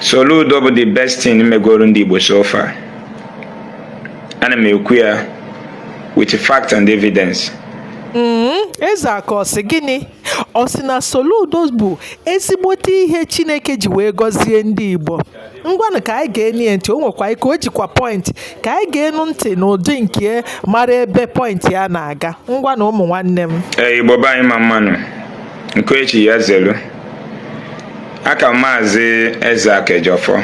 Soludo bụ the best thing megoro ndị Igbo so far ana m ekwu ya with fact and evidence mm-hmm. eze aka ọ sị gịnị ọ sị na Soludo bụ ezigbote ihe Chineke ji wee gọzie ndị Igbo ngwanụ ka anyị geenụ ya ntị o nwekwa ike o jikwa pọịntị ka anyị geenụ ntị n'ụdị nke mara ebe pọịntị ya na-aga ngwanụ ụmụ nwanne m ee Igbo be anyị mma mma nụ Nke echi ya zelu aka maazị Ezeaka Ejiofor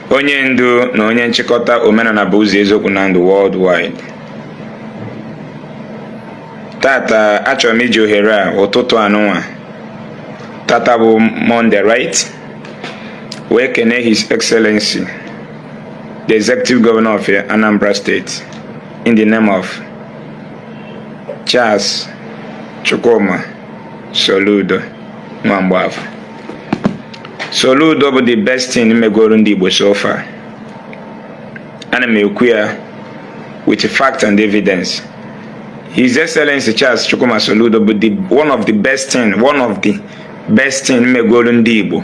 onye ndu na onye nchịkọta omenana bụ ụzọ eziokwu na ndụ worldwide tata achọrọ m iji ohere a ụtụtụ anụnwa tata bụ Monday right wee kene his excellency the executive governor of Anambra State in the name of Charles Chukwuma Soludo Nwamgbafọ Soludo bụ the best thing megoro ndị Igbo so far ana m ekwu ya with fact and evidence His Excellency Charles Chukwuma Soludo bụ one of the best thing one of the best thing megoro ndị Igbo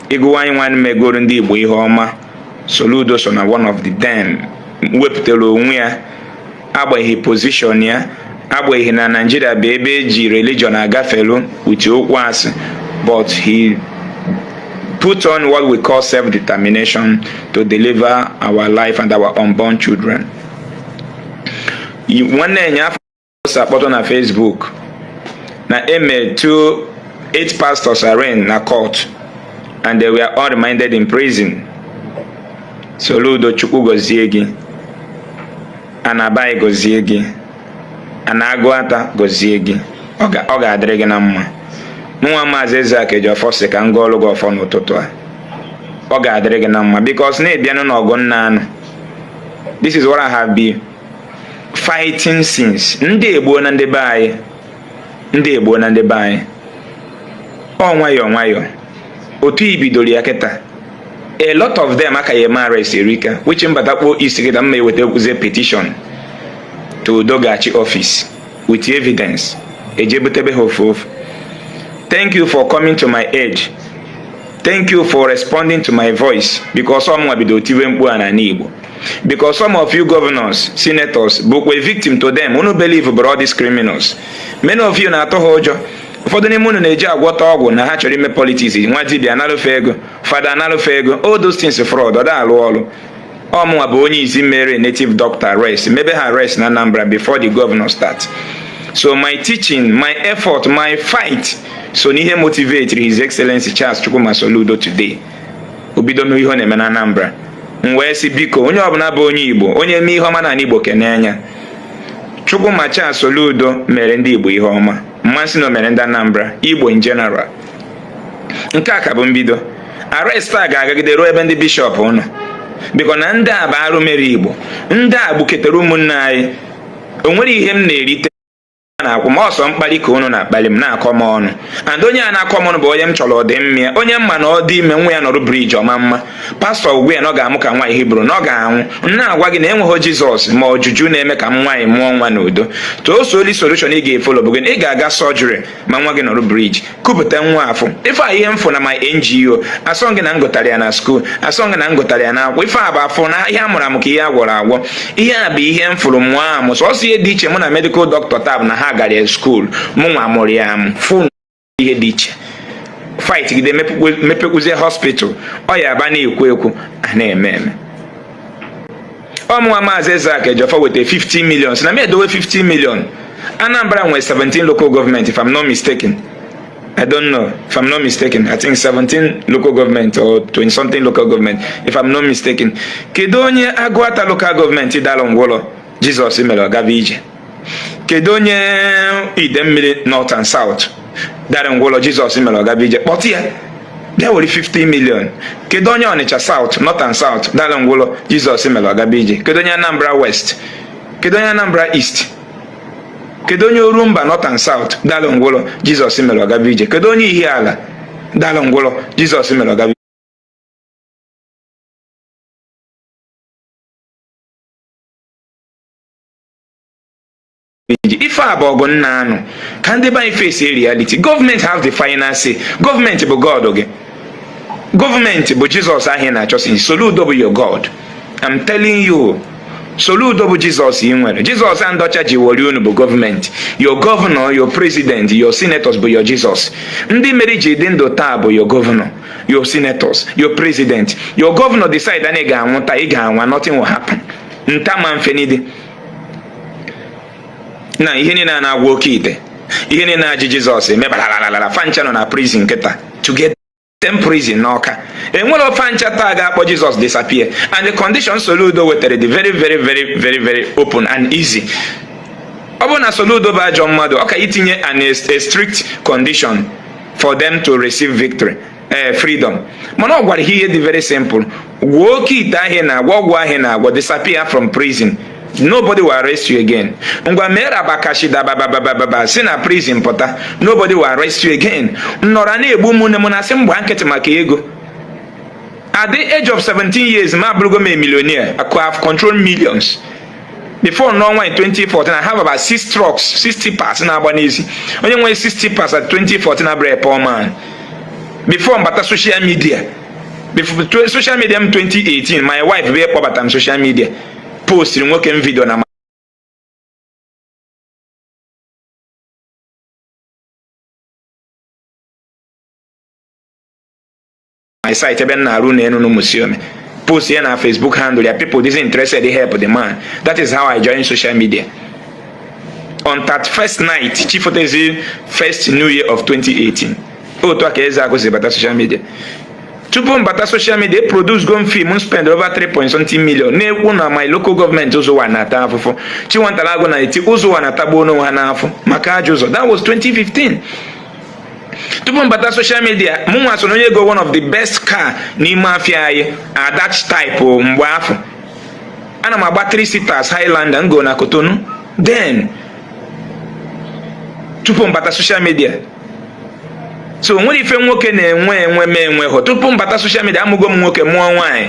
ị gụwa anyịnwa megoro ndị Igbo ihe ọma Soludo so na one of the them wepụtara onwe ya agbanyeghị pozishọn ya agbanyeghị na Naịjirịa bụ ebe eji religion agafelu with okwu asị but he put on what we call self-determination to deliver our life and our unborn children. Nwanne ya post akpọtụ na Facebook na eme two eight pastors arraigned na court and they were all remanded in prison Soludo Chukwu gọzie gị Ana be anyị gọzie gị Ana Aguata gọzie gị ọ ga-adịrị gị na mma nwa maazị Ezeaka Ejiofor sị ka m gọọlụ gị ọfọ n'ụtụtụ a ọ ga-adịrị gị na mma because na ị bịanụ n'ọgụ m na-anụ this is what I have been fighting since ndị egbuona ndị be anyị ndị egbuona ndị be anyị ọ nwayọọ nwayọọ otu i bidoro ya kịta a lot of them a ka ya-eme arrest erika which m batakpo isi kịta m ma-ewetakwuzie petition to Udogachi office with evidence e je butebe ha ofu ofu thank you for coming to my aid thank you for responding to my voice because ọ mụnwa bido tiwe mkpu a n'ana Igbo because some of you governors senators bụkwa a victim to them unu believe bụrụ all these criminals many of you na-atụ ha ụjọ ụfọdụ n'ime unu na-eje agwọta ọgwụ na ha chọrọ ime politics nwa dibịa analụ fa ego fada analụ fa ego all those things fraud ọ da alụ ọlụ ọ mụnwa bụ onye izi mere native doctor arrest mebe ha arrest na Anambra before the governor start so my teaching my effort my fight so n'ihe motivate his excellency Charles Chukwuma Soludo today obido mee ihe ọ na-eme na Anambra m wee sị biko onye ọbụla bụ onye Igbo onye mee ihe ọma n'anị Igbo kenee ya Chukwuma Charles Soludo mere ndị Igbo ihe ọma m ma sị na o mere ndị Anambra Igbo in general nke a ka bụ mbido arrest a ga-agagide ruo ebe ndị bishọp nọ because na ndị a bụ arụ mere Igbo ndị a gbuketara ụmụnne anyị o nwere ihe m na-erite na-akwụ ma ọ sọ mkpali ka unu na-akpali m na-akọ m ọnụ and onye a na-akọ m ọnụ bụ onye m chọrọ ọdịmma ya onye m ma na ọ dị ime nwa ya nọrụ breech ọma mma pastọ gwa ya na ọ ga-amụ ka nwaanyị hibru na ọ ga-anwụ m na-agwa gị na enweghị jizọs ma ọ juju na-eme ka nwaanyị mụọ nwa n'udo so only solution ị ga-efolo bụ gị ị ga-aga surgery ma nwa gị nọrụ breech kupụta nwa afụ ife a ihe m fụ na my ngo asọ gị na m gụtara ya na skuul asọ gị na m gụtara ya na akwụkwọ ife a bụ afọ na ihe a mụrụ amụ ka ihe a gwọrọ agwọ ihe a bụ ihe m fụrụ mụọ amụ sọsọ ihe dị iche mụ na medical doctor bụ na ha gara skuul mụ nwa mụrụ ya amụ fụ ihe dị iche fight gide mepekwuzie hospital ọ ya abụ a na-ekwu ekwu a na-eme eme ọ mụnwa maazị Ezeaku Ejiofor weta 50 million sị na m edowe 50 million Anambra nwere 17 local government if I'm not mistaken I don't know if I'm not mistaken. I think 17 local government or 20 something local government if I'm not mistaken. Kedu onye Agụata local government dara ngwọrọ Jizọs mere ọ gaba ije? kedu onye idemili north and south dara ngwọrọ jizọs mere ọ gaba ije kpọta ya bịa were 50 million kedu onye ọnịcha south north and south dara ngwọrọ jizọs mere ọ gaba ije kedu onye anambra west kedu onye anambra east kedu onye orumba north and south dara ngwọrọ jizọs mere ọ gaba ije kedu onye ihiala dara ngwọrọ jizọs mere ọ gaba ife a bụ ọgụ m na-anụ ka ndị be anyị face reality gọọmenti have the final say gọọmenti bụ god gị gọọmenti bụ jizọs ahụ na-achọsi soludo bụ your god i'm telling you soludo bụ jizọs ị nwere jizọs a ndị ọcha ji wori unu bụ gọọmenti your governor your president your senators bụ your jizọs ndị mere i ji dị ndụ taa bụ your governor your senators your president your governor decide na ị ga-anwụ taa ị ga-anwụ nothing will happen nta ma mfenidi na ihe niile a na-agwọ oke ite ihe niile na-eji jizọs eme baralalalala fa ncha nọ na prison kịta together in prison n'ọka enwerọ fa ncha taa ga-akpọ jizọs disappear and the condition soludo wetara dị very very very very very open and easy ọ bụrụ na soludo bụ ajọ mmadụ ọ ka itinye an a strict condition for them to receive victory ee eh, freedom mana ọ gwara ha ihe dị very simple gwọọ oke ite ahụ a na-agwọ ọgwụ ahụ a na-agwọ disappear from prison nobody will arrest you again ngwa mee rabakashi dabababababa si na prison pụta nobody will arrest you again ị nọrọ na-egbu ụmụnne m na-asị m gba nkịtị maka ego at the age of 17 years ma abụrụgo m a millionaire I could have controlled millions before n'ọnwa 2014 I have about six trucks six tippers na-agba n'isi onye nwere six tippers at 2014 abụrọ a poor man before m bata social media before social media m 2018 my wife bụ kpọbata m social media postiri nwoke m video na my site ebe m na-arụ ụnọ enu na Umusiome post ya na Facebook handle ya people dịzi interested help the man that is how I join social media on 31st night chi fotezi first new year of 2018 otu a ka Ezeaku si bata social media tupu m bata social media eproducego m film m spend over 3 point something million na-ekwu na my local government Uzo-Uwani na-ata afụfụ Chiwetalu Agu na-eti Uzo-Uwani na-atagbu onwe ha n'afụfụ maka ajọ ụzọ that was 2015 tupu m bata social media mụ nwa so na onye gọ one of the best car n'ime afịa anyị at that time mgbe afụ ana m agba 3 seaters highlander m gọ na Cotonou then tupu m bata social media so o nwere ife nwoke na-enwe enwe m enweghọ tupu m bata social media amụgo m nwoke mụọ nwaanyị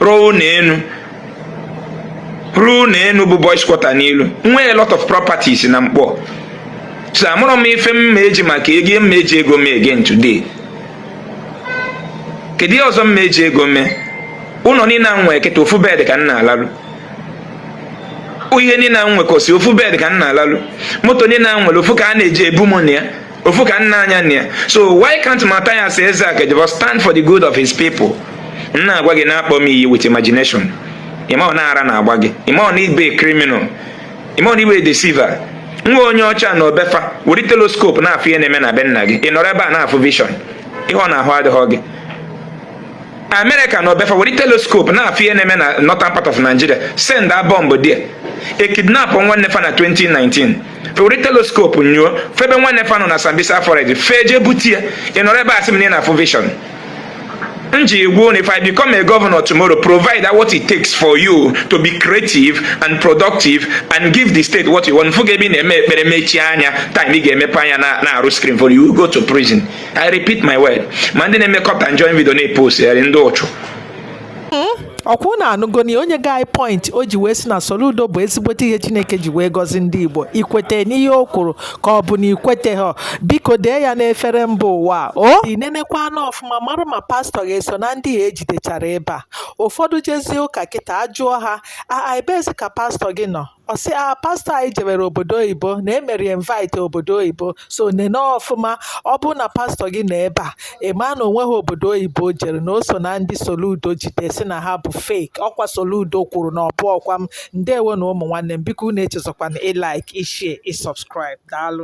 rụọ ụnọ enu rụọ ụnọ enu bụ boys quarter n'ilu nwee lot of properties na Nkpor so amarọ m ife m ma-eji maka ego m ma-eji ego mee again today kedu ihe ọzọ m ma-eji ego mee ụnọ niine a m nwe kịta ofu bed ka m na-alalụ ihe niile a nwekọsị ofu bed ka m na-alalụ moto niile a nwere ofu ka a na-eji ebu m na ya ofu ka m na-anya na ya so why can't Matthias Ezeaku Ejiofor stand for the good of his people m na-agwa gị ị na-akpọ m iyi with imagination ị marọ na ara na-agba gị ị marọ na ị bụ criminal ị marọ na ị bụ deceiver nwa onye ọcha nọ be fa were telescope na-afụ ihe na-eme na be nna gị ị nọrọ ebe a na-afụ vision ị hụrọ na ahụ adịghị gị America nọ be fa were telescope na-afụ ihe na-eme na northern part of nigeria send a bomb there e kidnap nwanne fa na 2019 were telescope nyoo fụ ebe nwanne fa nọ na Sambisa forest fee jee bute ya ị nọrọ ebe a sị m na ị na-afụ vision m ji egwu if i become a governor tomorrow provide what it takes for you to be creative and productive and give the state what you want fụ gị ebe ị na-eme ekpere mechie anya time ị ga-emepe anya na-arụ screen for you go to prison i repeat my word ma ndị na-eme cut and join video na-epost ndị ụchụ Hmm? ọkwa unu anụgo na onye guy point o ji wee sị na Soludo bụ ezigbote ihe Chineke ji wee gọzi ndị Igbo ikwete n'ihe o kwuru ka ọ bụ na ikwetahọ biko dee ya n'efere mba ụwa o i nenekwaanụ ọfụma mara ma pastọ gị eso na ndị a ejidechara ebe a ụfọdụ jezie ụka kịta ajụọ ha ebeezi ka pastọ gị nọ ọ sị a ah, pastọ anyị jebere obodo oyibo na emere invite obodo oyibo so nene ọfụma ọ bụrụ na pastọ gị nọ ebe a ị ma na onweghị obodo oyibo o jere na o so na ndị Soludo jide sị na ha bụ fake ọkwa Soludo kwuru na ọ bụhọkwa m ndewo nụ ụmụ nwanne m biko unu echezọkwana ịlike ịshare ịsubscribe daalụ